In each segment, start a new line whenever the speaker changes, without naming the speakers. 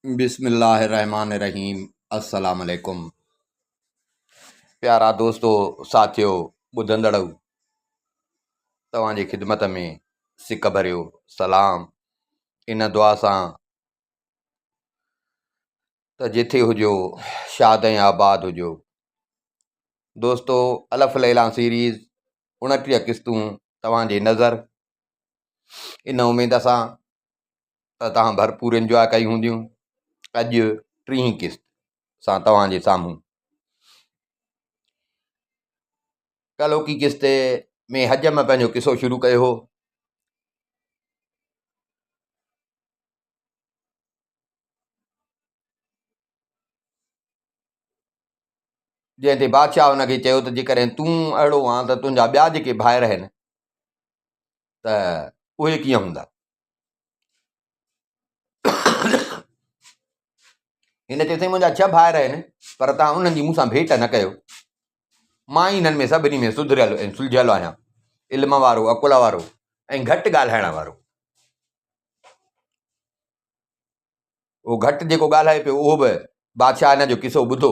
بسم الله الرحمٰن الرحيم السلام عليڪم پيارا دوستو ساٿيو ٻڌندڙو توهان جي خدمت ۾ سڪ ڀريو سلام ان دعا سان ته جٿي هجو شاد ۽ آباد هجو دوستو الف ليلان سيريز اڻٽيهه قسطون توهان جي نظر ان اميد سان ته توهان ڀرپور انجواء ڪئي هونديون اڄ ٽين قسط سان توهان جي سامهون ڪلوڪي قسط ۾ حج ۾ پنهنجو قصو شروع ڪيو هو جنهن تي بادشاهه هن کي چيو ته جيڪڏهن تون اهڙو آن ته تنهنجا ٻيا جيڪي ڀائر آهن ته اهي ڪيئن هوندا؟ هن چيو، سائين منهنجا ڇهه ڀائر آهن، پر توهان انهن جي مون سان ڀيٽ نه ڪيو. مان ئي هنن ۾ سڀني ۾ سڌريل ۽ سلجهيل آهيان، علم وارو، عقل وارو ۽ گهٽ ڳالهائڻ وارو. هو گهٽ جيڪو ڳالهائي پيو، اهو به بادشاهه هن جو قصو ٻڌو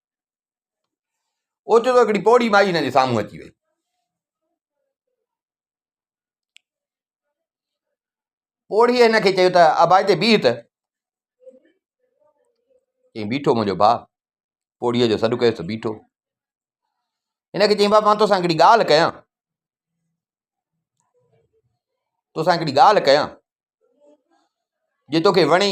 اوچتو هڪڙي پوڙهي مائي هن جي سامهون اچي وئي. پوڙهيء هن کي چيو ته ابا هتي بيهه ته چيائين بيٺو منهنجو ڀاء پوڙهيء جو سڏ ڪيس ته بيٺو هن کي چيائين ڀاء مان توسان هڪڙي ڳالهه ڪيان توسان هڪڙي ڳالهه ڪيان جي توکي وڻي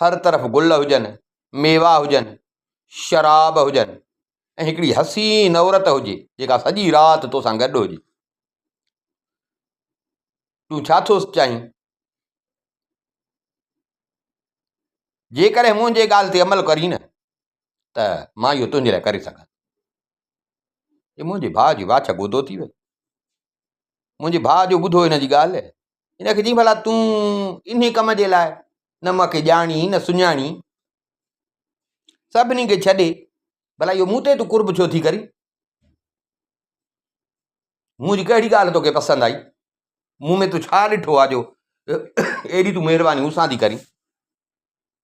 هر طرف گل هجن، ميوا هجن، شراب هجن ۽ هڪڙي حسين عورت هجي جيڪا سڄي رات توسان گڏ هجي. تون ڇا ٿو چاهين؟ جيڪڏهن منهنجي ڳالهه تي عمل ڪرين نه ته مان اهو تنهنجي لاء ڪري سگهان ٿي. منهنجي ڀاء جي واڇ گودو ٿي وئي. منهنجي ڀاء جو ٻڌو هن جي ڳالهه هن کي چيائين ڀلا تون انهي ڪم جي لاء نه مون کي ڄاڻي نه سڃاڻي سڀني کي ڇڏي ڀلا اهو مون تي تون قرب ڇو ٿي ڪرين منهنجي ڪهڙي ڳالهه تونکي پسند آئي مون ۾ تو ڇا ڏٺو آ جو ايڏي تون مهرباني مون سان ٿي ڪرين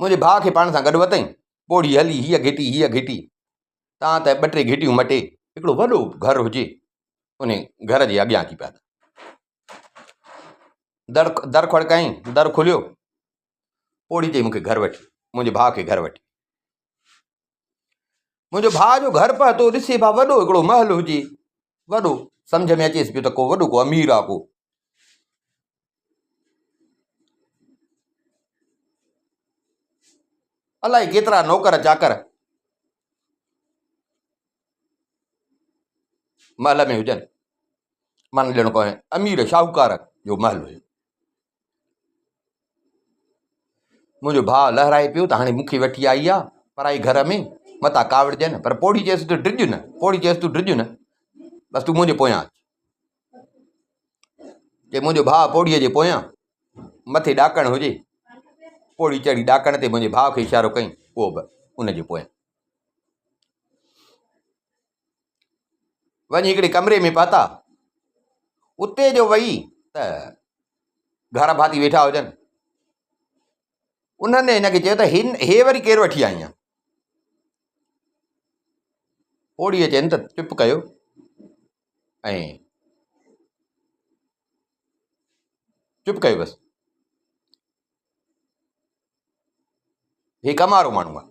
منهنجي ڀاء کي پاڻ سان گڏ وتئين، پوڙهي هلي هيء گهٽي هيء گهٽي، تان ته ٻه ٽي گهٽيون مٽي هڪڙو وڏو گهر هجي، انهي گهر جي اڳيان اچي پيا. در در کڙڪايائين، در کليو، پوڙهي چئي مون کي گهر وٺي، منهنجي ڀاء کي گهر وٺي. منهنجو ڀاء جو گهر پهتو ڏسي ڀاء وڏو هڪڙو محل هجي وڏو سمجھ ۾ اچيس پيو ته ڪو وڏو ڪو امير آ ڪو الائي ڪيترا نوڪر چاڪر محل ۾ هجن من ڏيڻو پوي امير شاهوڪار جو محل هجي منهنجو ڀاء لهرائي پيو ته هاڻي مکي وٺي آئي آ پرائي گهر ۾ متان ڪاوڙجي نه پر پوڙهي چيس ته ڊڄ نه پوڙهي چيس ته ڊڄ نه بس تون منهنجي پويان جي منهنجو ڀاء پوڙهي جي پويان مٿي ڏاڪڻ هجي پوڙهي چڙهي ڏاڪڻ تي منهنجي ڀاء کي اشارو ڪيائين پوء به ان جي پويان وڃي هڪڙي ڪمري ۾ پهتا، اتي جو وئي ته گهارا ڀاتي ويٺا هجن، انهن هن کي چيو ته هن هي وري ڪير وٺي آئين آهين؟ پوڙهيء چين ته چپ ڪيو ۽ چپ ڪيو بس هي ڪم وارو ماڻهو آهي.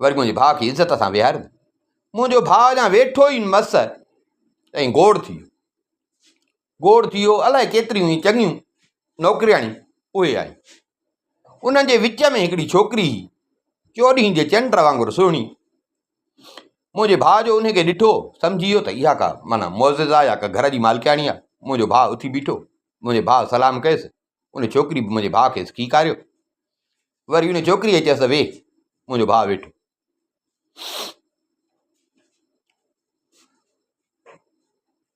وري منهنجي ڀاء کي عزت سان ويهاريم منهنجو ڀاء اڃا ويٺو ئي مس ۽ گوڙ ٿي ويو گوڙ ٿي ويو الائي ڪيتريون ئي چڱيون نوڪرياڻيون اهي آيون انهن جي وچ ۾ هڪڙي ڇوڪري هئي چوڏهين جي چنڊ وانگر سهڻي منهنجي ڀاء جو ان کي ڏٺو سمجهي ويو ته اها ڪا مانا معزز آ يا ڪا گهر جي مالڪياڻي آ منهنجو ڀاء اٿي بيٺو منهنجي ڀاء سلام ڪيس ان ڇوڪري به منهنجي ڀاء کي سکيڪاريو وري ان ڇوڪريء چيس ته ويھ منهنجو ڀاء ويٺو.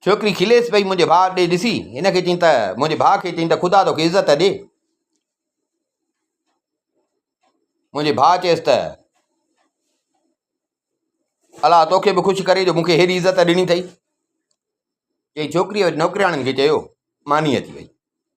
ڇوڪري کليس پئي منهنجي ڀاء ڏي ڏسي هن کي چين ته منهنجي ڀاء کي چين ته خدا توکي عزت ڏي منهنجي ڀاء چيس ته الا توکي به خوش ڪري جو مونکي هيڏي عزت ڏني اٿئي چي ڇوڪريء نوڪرياڻين کي چيو ماني اچي وئي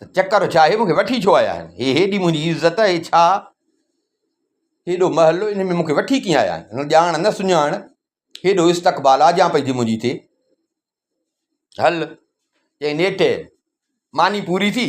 ته چڪر ڇا هي مون کي وٺي ڇو آيا آهن هي هيڏي منهنجي عزت هي ڇا هيڏو محلو ان ۾ مون کي وٺي ڪيئن آيا آهن ڄاڻ نه سڃاڻ هيڏو استقبال آجان پئي ٿي منهنجي ٿي هل چئي نيٺ ماني پوري ٿي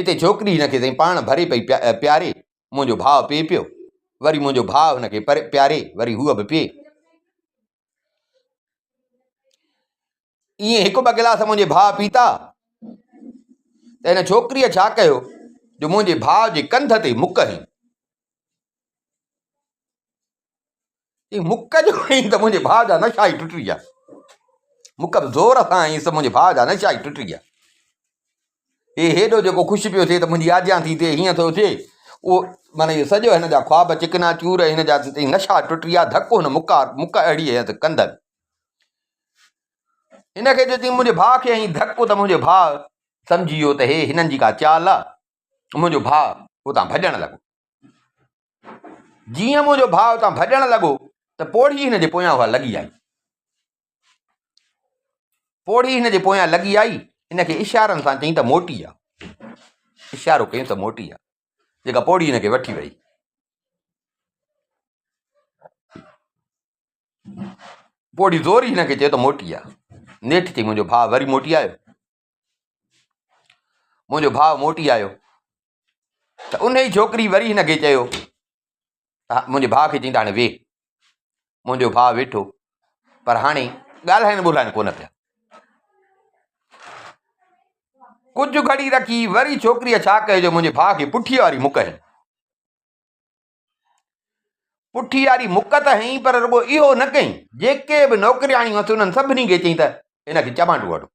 اتي ڇوڪري هن کي سائين پاڻ ڀري پئي پياري، منهنجو ڀاء پيئي پيو، وري منهنجو ڀاء هن کي پياري، وري هوء به پيئي. ائين هڪ ٻه گلاس منهنجي ڀاء پيتا ته هن ڇوڪريء ڇا ڪيو جو منهنجي ڀاء جي ڪنڌ تي مڪ هنئي. چيائين، مک جو هئين ته منهنجي ڀاء جا نشا ئي ٽٽي ويا. مک به زور سان هئينس ته منهنجي ڀاء جا نشا ئي ٽٽي ويا. هي هيڏو جيڪو خوش پيو ٿئي ته منهنجي آجيان ٿي ٿئي، هيئن ٿو ٿئي، اهو معنيٰ اهو سڄو هن جا خواب چڪنا چور ۽ هن جا نشا ٽٽي ويا، ڌڪ هن مک اهڙي هنيس ته ڪنڌ هلي. هن کي جو چيائين منهنجي ڀاء کي هنئين ڌڪ ته منهنجو ڀاء سمجهي ويو ته هي هنن جي ڪا چال آ، منهنجو ڀاء اتان ڀڄڻ لڳو. جيئن منهنجو ڀاء اتان ڀڄڻ لڳو ته پوڙهي هن جي پويان اها لڳي آئي. پوڙهي هن جي پويان لڳي آئي، هن کي اشارن سان چئي ته موٽي آ. اشارو ڪيس ته موٽي آ، جيڪا پوڙهي هن کي وٺي وئي. پوڙهي زوري هن کي چيو ته موٽي آ. نيٺ چئي منهنجو ڀاء وري موٽي آيو. منهنجو ڀاء موٽي آيو ته ان ئي ڇوڪري وري هن کي چيو منهنجي ڀاء کي چيائين ته هاڻي ويهه منهنجو ڀاء ويٺو پر هاڻي ڳالهائن ٻولهائن ڪونه پيا ڪجهه گهڙي رکي وري ڇوڪريء ڇا ڪيو جو منهنجي ڀاء کي پٺي واري مک هنئي پٺي واري مک ته هنئي پر رڳو اهو نه ڪيائين، جيڪي به نوڪرياڻيون هئس انهن سڀني کي چيائين ته هن کي چمانڊو هڻو.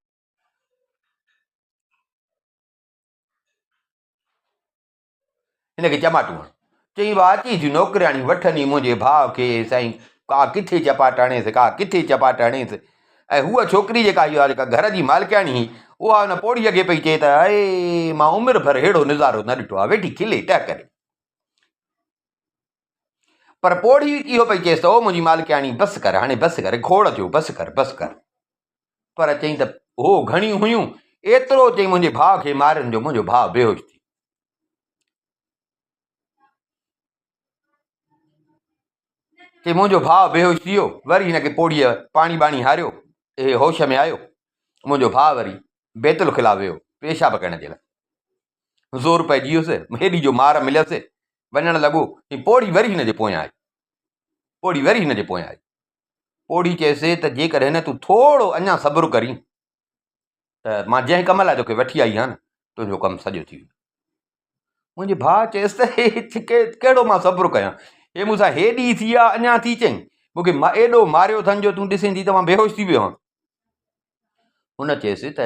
هن کي چماٽو هڻو. چئين وا اچي ٿيون نوڪرياڻيون وٺن ئي منهنجي ڀاء کي سائين ڪا ڪٿي چپاٽ هڻيس ڪا ڪٿي چپاٽ هڻيس ۽ هوء ڇوڪري جيڪا هئي جيڪا گهر جي مالڪياڻي هئي اها ان پوڙهيء کي پئي چئي ته اي مان عمر ڀر ههڙو نظارو نه ڏٺو آهي ويٺي کلي ٽهڪري پر پوڙهي اهو پئي چيس ته او منهنجي مالڪياڻي بس ڪر هاڻي بس ڪر کوڙ ٿيو بس ڪر بس ڪر پر چيائين ته هو گهڻيون هيون ايترو چي منهنجي ڀاء کي مارن جو منهنجو ڀاء بيهوش ٿي چي منهنجو ڀاء بيهوش ٿي ويو وري هن کي پوڙهيء پاڻي ٻاڻي هاريو اهي هوش ۾ آيو منهنجو ڀاء وري بيت الخلا ويو پيشاب ڪرڻ جي لاء زور پئجي ويس، هيڏي جو مار مليس، وڃڻ لڳو ۽ پوڙهي وري هن جي پويان آئي. پوڙهي وري هن جي پويان آئي. پوڙهي چيس ته جيڪڏهن تون ٿورو اڃا صبر ڪرين ته مان جنهن ڪم لاء توکي وٺي آئي آهيان نه، تنهنجو ڪم سڄو ٿي ويندو. منهنجي ڀاء چيس ته هي ڪهڙو مان صبر ڪيان، هي مون سان هيڏي ٿي آ، اڃا ٿي چئين، مون کي ايڏو ماريو اٿن جو تون ڏسين ٿي ته مان بيهوش ٿي ويو آهيان. هن چيس ته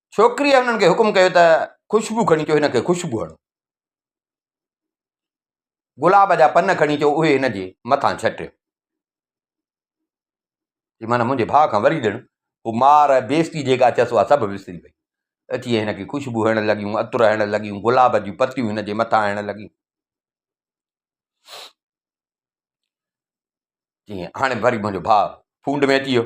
ڇوڪريء هنن کي حڪم ڪيو ته خوشبو کڻي اچو هن کي خوشبو هڻو. گلاب جا پن کڻي اچو اهي هن جي مٿان ڇٽيو. جي معنيٰ منهنجي ڀاء کان وري ڏڻ هو مار بيستي جيڪا اٿس اها سڀ وسري وئي. اچي هن کي خوشبو هڻڻ لڳيون، عطر هڻڻ لڳيون، گلاب جون پتيون هن جي مٿان هڻڻ لڳيون. جي هاڻي وري منهنجو ڀاء ڦونڊ ۾ اچي ويو.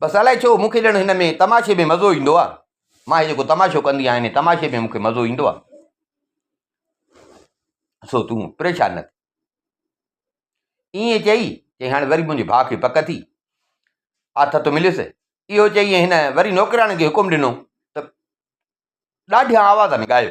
بس الائي ڇو مون کي ڄڻ هن ۾ تماشي ۾ مزو ايندو آهي مان هي جيڪو تماشو ڪندي آهيان هن تماشي ۾ مون کي مزو ايندو آهي سو تون پريشان نه ائين چئي چي هاڻي وري منهنجي ڀاء کي پڪ ٿي آٿت مليس اهو چئي هن وري نوڪرياڻي کي حڪم ڏنو ته ڏاڍيان آوازن ڳايو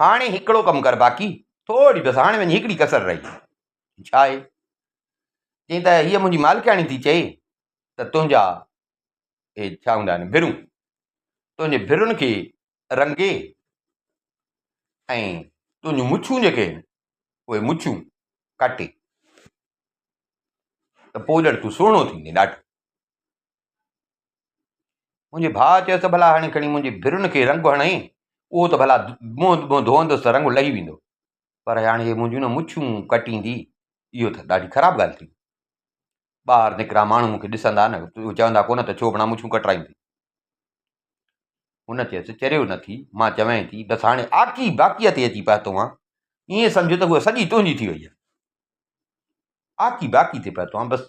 هاڻي هڪڙو ڪم ڪر باقي ٿوري بس هاڻي وڃي هڪڙي ڪسر رهي ڇا آهي چئين ته هيء منهنجي مالڪياڻي ٿي چئي ته تنهنجا اهي ڇا هوندا آهن ڀرون تنهنجي ڀرن کي رنگي ۽ تنهنجون مڇون جيڪي آهن اهي مڇون ڪاٽي ته پوء ڄڻ تون سهڻو ٿيندين ڏاڍو منهنجي ڀاء چيس ته ڀلا هاڻي کڻي منهنجي ڀرن کي رنگ هڻ ۽ اهو ته ڀلا منهن ٻنهن ڌوئندس ته رنگ لهي ويندو پر هاڻي هي منهنجون نه مڇون ڪٽيندي اهو ته ڏاڍي خراب ڳالهه ٿي ٻاهر نڪرا ماڻهو مون کي ڏسندا نه چوندا ڪونه ته ڇو بنا مڇون ڪٽرائين ٿي هن چيس چريو نه ٿي مان چوين ٿي بس هاڻي آڪي باقيء تي اچي پهتو آن ائين سمجهه ته هوء سڄي تنهنجي ٿي وئي آهي آڪي باقي تي پهتو آن بس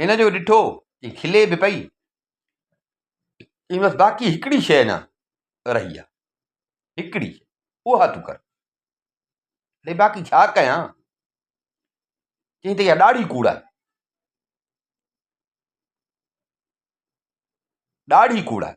هن جو ڏٺو ته کلي به پئي، چيمس باقي هڪڙي شيء اڃا رهي آهي، هڪڙي اها تون ڪر. اڙي باقي ڇا ڪيان؟ چيائين ته اها ڏاڙهي ڪوڙ آهي. ڏاڙهي ڪوڙ آهي.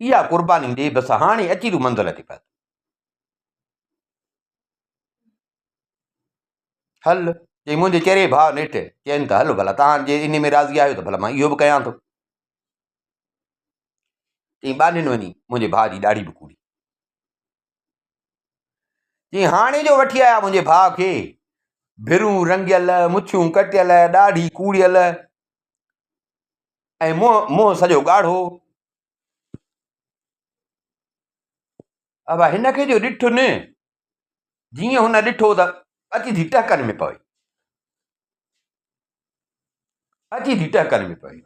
اها قرباني ڏي بس هاڻي اچي تون منزل تي پهتو. هل چئي منهنجي چري ڀاء نيٺ چين ته هل ڀلا تان جي ان ۾ راضي آهيو ته ڀلا مان اهو به ڪيان ٿو. چئي ٻانهين وڃي منهنجي ڀاء جي ڏاڙهي به ڪوڙي. چئي هاڻي جو وٺي آيا منهنجي ڀاء کي ڀرون رنگيل مڇيون ڪٽيل ڏاڙهي ڪوڙيل ۽ منهن منهن سڄو ڳاڙهو ابا هن کي جو ڏٺ نه جيئن هن ڏٺو ته اچي ٿي ٽهڪن ۾ پوي اچي ٿي ٽهڪن ۾ پوي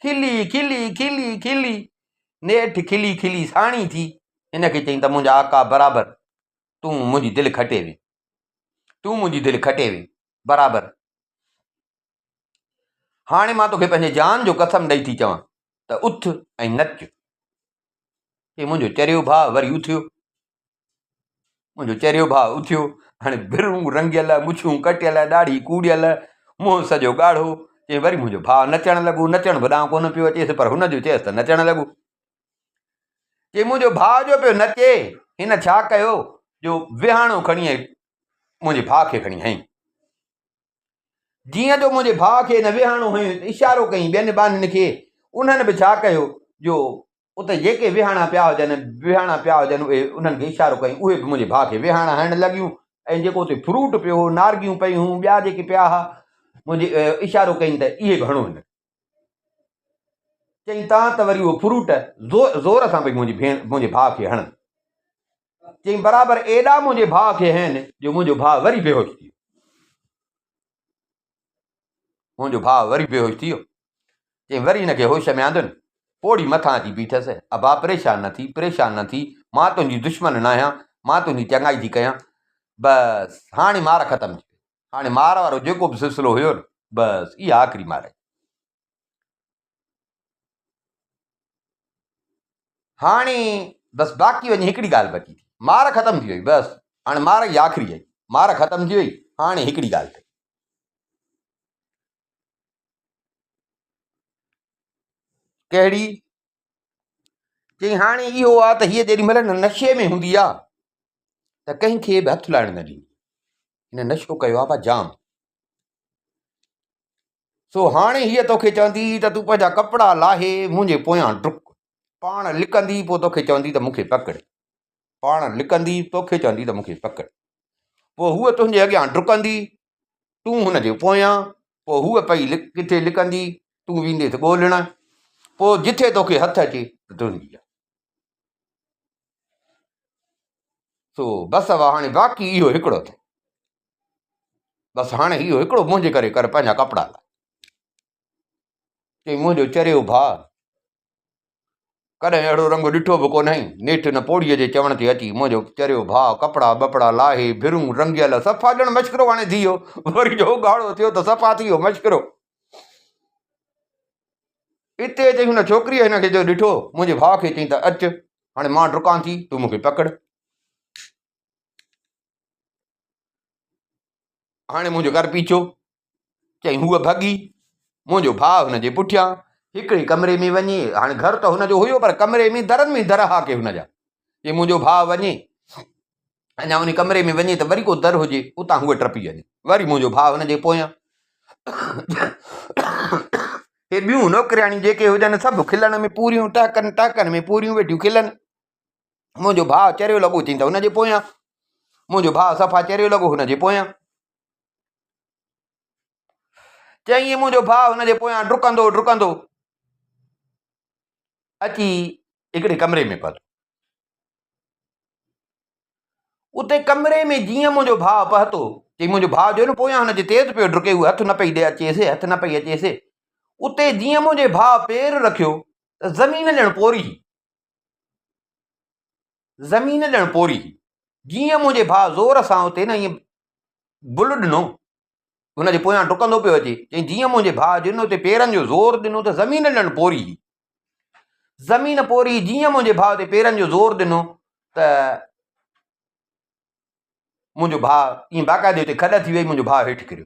کلي کلي کلي کلي نيٺ کلي کلي ساڻي ٿي هن کي چيائين ته منهنجا آقا برابر تون منهنجي دل کٽي وي تون منهنجي دل کٽي وي برابر هاڻي مان توکي پنهنجي جان جو قسم ڏئي ٿي چوان ته اٿ ۽ نچ. هي منهنجو چريو ڀاء وري اٿيو. منهنجو چريو ڀاء اٿيو. هاڻي ڀرون رنگيل، مڇون ڪٽيل، ڏاڙهي ڪوڙيل، منهن سڄو ڳاڙهو. چيائين وري منهنجو ڀاء نچڻ لڳو. نچڻ به ڏانهن ڪونه پيو اچيس پر هن جو چيس ته نچڻ لڳو. چيائين منهنجو ڀاء جو پيو نچي هن ڇا ڪيو جو وهاڻو کڻي منهنجي ڀاء کي کڻي هنئي. جيئن جو منهنجي ڀاء کي نه ويهارڻو هيو ته اشارو ڪيائين ٻين ٻانهن کي، انهن به ڇا ڪيو جو اتي جيڪي ويهاڻا پيا هجن ويهاڻا پيا هجن اهي انهن کي اشارو ڪيائين اهي به منهنجي ڀاء کي ويهاڻا هڻڻ لڳيون ۽ جيڪو اتي فروٽ پيو هو نارگيون پيون هيون ٻيا جيڪي پيا ها منهنجي اشارو ڪيائين ته اهي به هڻو هن کي چيائين تان ته وري اهو فروٽ زور سان پئي منهنجي ڀيڻ منهنجي ڀاء کي هڻن چيائين برابر ايڏا منهنجي ڀاء کي هين جو منهنجو ڀاء وري بيهوش ٿي ويو منهنجو ڀاء وري بيهوش ٿي ويو چيائين وري هن کي هوش ۾ آندن پوڙهي مٿان اچي بيٺس ابا پريشان نه ٿي پريشان نه ٿي مان تنهنجي دشمن نه آهيان مان تنهنجي چڱائي ٿي ڪيان بس هاڻي مار ختم ٿي هاڻي مار وارو جيڪو به سلسلو هيو نه بس اها آخري مار هاڻي بس باقي وڃي هڪڙي ڳالهه بچي ٿي مار ختم ٿي وئي بس هاڻي مار جي آخري آهي مار ختم ٿي وئي هاڻي هڪڙي ڳالهه ٿي ڪهڙي چي هاڻي اهو آ ته هيء جيڏي مهل نشي ۾ هوندي آ ته ڪنهن کي به هٿ لائڻ نه ڏيندي هن نشو ڪيو آ جام سو هاڻي هيء توکي چوندي ته تون پنهنجا ڪپڙا لاهي منهنجي پويان ڊڪ. پاڻ لڪندي پوء توکي چوندي ته مون کي پڪڙ. پاڻ لڪندي توکي چوندي ته مون کي پڪڙ. پوء هوء تنهنجي اڳيان ڊڪندي، تون هن جي پويان. پوء هوء پئي ڪٿي لڪندي، تون وينديس ڳولڻ. پوء جتي توکي هٿ اچي ته تنهنجي آ. سو بس هاڻي باقي اهو هڪڙو ٿو. بس هاڻي اهو هڪڙو منهنجي ڪري ڪر پنهنجا ڪپڙا لاهه چئي منهنجو چريو ڀاء ڪڏهن اهڙو رنگ ڏٺو به ڪونهي نيٺ هن پوڙهيء جي چوڻ تي اچي منهنجو چريو ڀاء ڪپڙا ٻپڙا لاهي ڀرون رنگيل صفا ڄڻ مشڪرو هاڻي ٿي ويو وري جو ڳاڙهو ٿيو ته صفا ٿي ويو مشڪرو اتي اچي هن ڇوڪريء هن کي جو ڏٺو منهنجي ڀاء کي چئي ته اچ هاڻي مان ڊڪان ٿي تون مون کي پڪڙ هاڻي منهنجو گهر پيڇو چئين هوء ڀڳي منهنجو ڀاء هن جي پٺيان هڪڙي ڪمري ۾ وڃي هاڻي گهر ته هن جو هيو پر ڪمري ۾ درن ۾ در هاڪي هن جا جي منهنجو ڀاء وڃي اڃا ان ڪمري ۾ وڃي ته وري ڪو در هجي اتان هوء ٽپي وڃي وري منهنجو ڀاء هن جي پويان هي ٻيون نوڪرياڻيون جيڪي هجن سڀ کلڻ ۾ پوريون ٽهڪن ٽهڪن ۾ پوريون ويٺيون کلن منهنجو ڀاء چريو لڳو ٿين ته هنجي پويان منهنجو ڀاء صفا چريو لڳو هنجي پويان چئين منهنجو ڀاء هنجي پويان ڊڪندو ڊڪندو اچي هڪڙي ڪمري ۾ پهتو اتي ڪمري ۾ جيئن منهنجو ڀاء پهتو چي منهنجو ڀاء جو نه پويان هنجي تيز پيو ڊڪي هو هٿ نه پئي ڏي اچيس هٿ نه پئي اچيس اتي جيئن منهنجي ڀاء پير رکيو زمين ڄڻ پوري زمين ڄڻ پوري هئي. جيئن منهنجي ڀاء زور سان اتي نه ائين بل ڏنو، هن جي پويان ڊڪندو پيو اچي، چيائين جيئن منهنجي ڀاء جن اتي پيرن جو زور ڏنو ته زمين ڄڻ پوري هئي. زمين پوري هئي، جيئن منهنجي ڀاء اتي پيرن جو زور ڏنو ته منهنجو ڀاء ائين باقاعدي اتي کڏ ٿي ويئي، منهنجو ڀاء هيٺ ڪريو.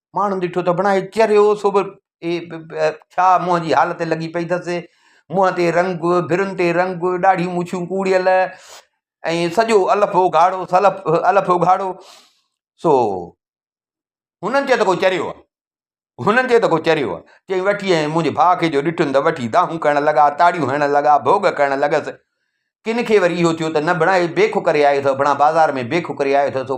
ماڻهن ڏٺو ته بڻائي چريو سو به اي ڇا منهن جي حالت لڳي پئي اٿس منهن تي رنگ ڀرن تي رنگ ڏاڙهي مڇون ڪوڙيل ۽ سڄو الف اگهاڙو سلف الف اگهاڙو سو هنن چيو ته ڪو چريو آهي هنن چيو ته ڪو چريو آهي چي وٺي ۽ منهنجي ڀاء کي جو ڏٺن ته وٺي دانهون ڪرڻ لڳا تاڙيون هڻڻ لڳا ڀوڳ ڪرڻ لڳس ڪن کي وري اهو ٿيو ته نه بڻائي بيخ ڪري آيو اٿو بڻا بازار ۾ بيخ ڪري آيو اٿو سو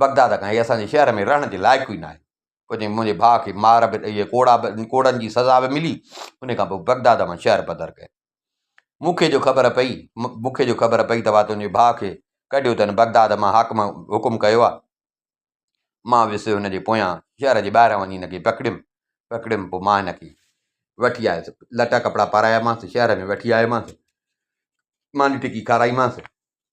بغداد کان هي اسان جي شهر ۾ رهڻ جي لائق ئي ناهي پوء چيائين منهنجي ڀاء کي مار به ڏئي ڪوڙا به ڪوڙن جي سزا به ملي ان کان پوء بغداد مان شهر بدر ڪيائين مون کي جو خبر پئي مون کي جو خبر پئي ته وا تنهنجي ڀاء کي ڪڍيو اٿن بغداد مان حاڪم حڪم ڪيو آهي مان ويس هن جي پويان شهر جي ٻاهران وڃي هن کي پڪڙيم پڪڙيم پوء مان هن کي وٺي آيس لٽا ڪپڙا پارايامانس شهر ۾ وٺي آيومانس ماني ٽڪي کارائيمانس